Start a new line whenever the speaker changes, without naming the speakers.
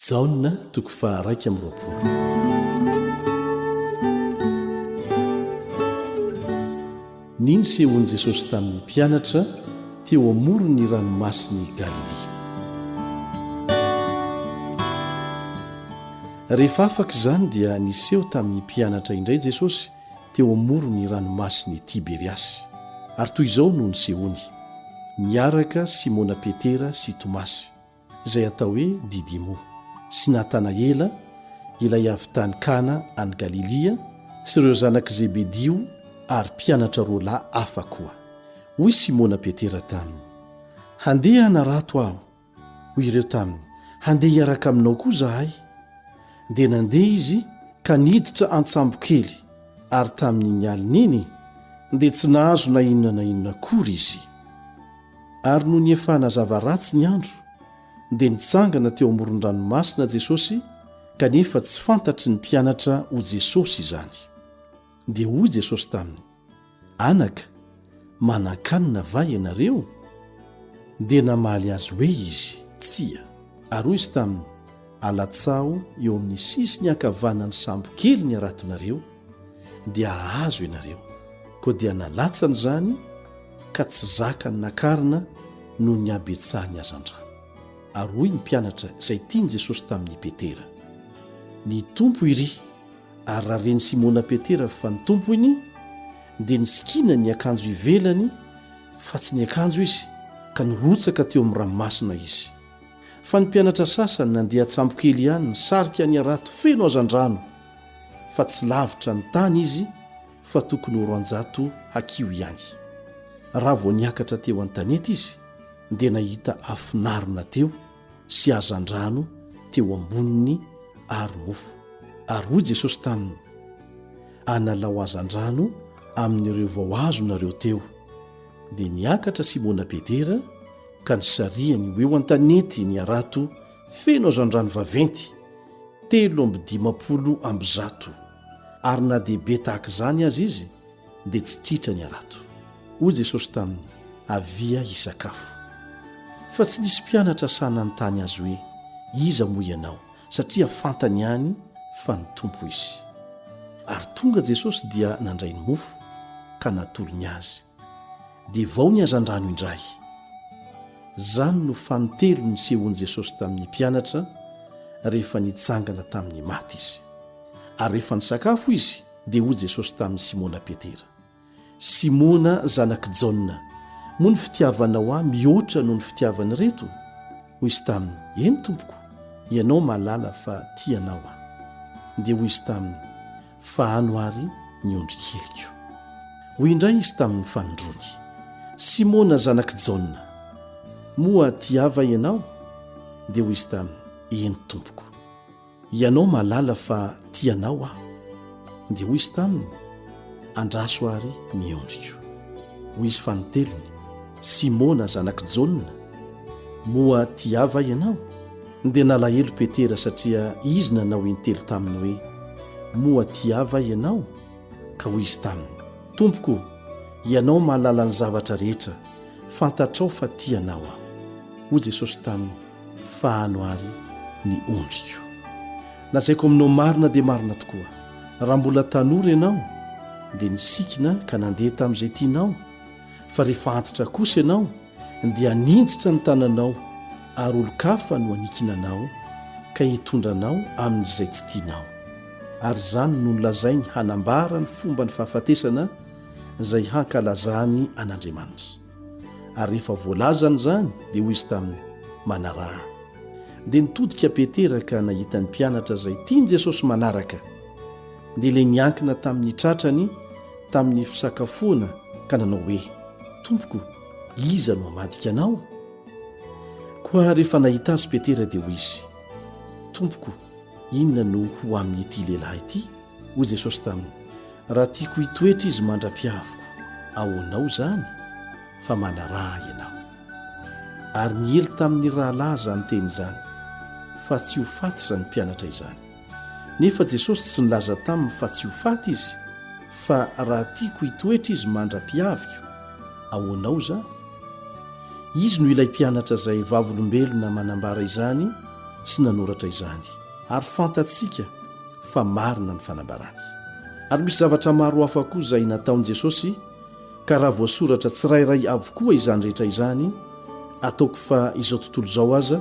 Jaona toko faha raika amby roapolo. Ny nisehoan'i Jesosy tamin'ny mpianatra teo amoron'ny ranomasin'i Galilia. Rehefa afaka izany dia niseho tamin'ny mpianatra indray Jesosy teo amoron'ny ranomasin'i Tiberiasy, ary toy izao no nisehoany, niaraka Simona Petera sy Tomasy. izay atao hoe Didimo, sy Natanaela, ilay avy tany Kana any Galilia, sy ireo zanak'i Zebedio ary mpianatra roa lahy hafa koa. Hoy Simona Petera taminy, Handeha hanarato aho. Hoy ireo taminy, Handeha hiaraka aminao koa izahay. Dia nandeha izy ka niditra an-tsambokely, ary tamin'iny alina iny dia tsy nahazo na inona na inona akory izy. Ary noho ny efa hanazava ratsy ny andro, dia nitsangana teo amoron-dranomasina Jesosy, kanefa tsy fantatry ny mpianatra ho Jesosy izany. Dia hoy Jesosy taminy, Anaka, manan-kanina va ianareo? Dia namaly azy hoe izy, Tsia. Ary hoy izy taminy, Alatsaho eo amin'ny sisiny ankavanan'ny sambo kely ny haratonareo, dia hahazo ianareo. Koa dia nalatsany izany ka tsy zakany nakarina noho ny habetsahan'ny hazandrano. Ary hoy ny mpianatra izay tian'i Jesosy tamin'i Petera, Ny Tompo iry! Ary raha ren'i Simona Petera fa ny Tompo iny, dia nisikina ny akanjo ivelany fa tsy ny akanjo izy, ka nirotsaka teo amin'ny ranomasina izy. Fa ny mpianatra sasany nandeha an-tsambokely ihany nisarika ny harato feno hazandrano fa tsy lavitra ny tany izy fa tokony ho roanjato hakiho ihany. Raha vao niakatra teo an-tanety izy dia nahita afinarina teo sy hazandrano teo amboniny ary mofo. Ary hoy Jesosy taminy, Analao hazandrano amin'ireo vao azonareo teo. Dia niakatra Simona Petera ka nisarihany ho eo an-tanety ny harato feno hazandrano vaventy, telo amby dimampolo amby zato, ary na dia be tahaka izany aza izy, dia tsy tritra ny harato. Hoy Jesosy taminy, Avia hisakafo. Fa tsy nisy mpianatra sahy nanontany Azy hoe, Iza moa Ianao? satria fantany ihany fa ny Tompo Izy. Ary tonga Jesosy dia nandray ny mofo, ka natolony azy. dia vao ny hazandrano indray. Izany no fanintelo nisehoan'i Jesosy tamin'ny mpianatra rehefa nitsangana tamin'ny maty izy. Ary rehefa nisakafo izy, dia hoy Jesosy tamin'i Simona Petera, Simona zanak'i Jaona, moa ny fitiavanao ahy mihoatra noho ny fitiavan'ireto? Hoy izy taminy, Eny, Tompoko, ianao mahalala fa tia anao aho. Dia hoy izy taminy, fa ano àry ny ondry keliko. Hoy indray izy tamin' ny fanindroany, Simôna zanak' i Jaona, moa tia va ianao? Dia hoy izy taminy, Eny, Tompoko. Hianao mahalala fa tia anao aho. Dia hoy izy taminy, Andraso àry ny ondriko. Hoy izy fanintelony, Simôna zanak' i Jaona, moa tia va ianao? Dia nalahelo Petera satria izy nanao intelo taminy hoe, Moa tia va ianao? Ka hoy izy taminy, Tompoko, ianao mahalala ny zavatra rehetra, fantatrao fa tia anao aho. Hoy Jesosy taminy, Fahano àry ny ondriko. Lazaiko aminao marina dia marina tokoa, raha mbola tanora ianao, dia nisikina ka nandeha tamin'izay tianao, fa rehefa antitra kosa ianao, dia haninjitra ny tananao, ary olon-kafa no hanikina anao, ka hitondra anao amin'izay tsy tianao. Ary izany no nolazainy hanambara ny fomba ny fahafatesana izay hankalazany an'Andriamanitra. Ary rehefa voalazany izany, dia hoy izy taminy, Manaraha ahy. Dia nitodika Petera ka nahita ny mpianatra izay tian'i Jesosy manaraka, dia ilay niankina tamin'ny tratrany, tamin'ny fisakafoana ka nanao hoe, Tompoko, iza no hamadika anao? Koa rehefa nahita azy Petera dia hoy izy, Tompoko, inona no ho amin'ity lehilahy ity? Hoy Jesosy taminy, Raha tiako hitoetra izy mandra-piaviko, ahoanao izany? Fa manaraha ahy ianao. Ary niely tamin'ny rahalahy izany teny izany, fa tsy ho faty izany mpianatra izany. Nefa Jesosy tsy nilaza taminy fa tsy ho faty izy, fa raha tiako hitoetra izy mandra-piaviko, ahoanao izany? Izy no ilay mpianatra izay vavolombelona manambara izany sy nanoratra izany, ary fantatsika fa marina ny fanambarany. Ary misy zavatra maro hafa koa izay nataon'i Jesosy, ka raha voasoratra tsirairay avokoa izany rehetra izany, ataoko fa izao tontolo izao aza,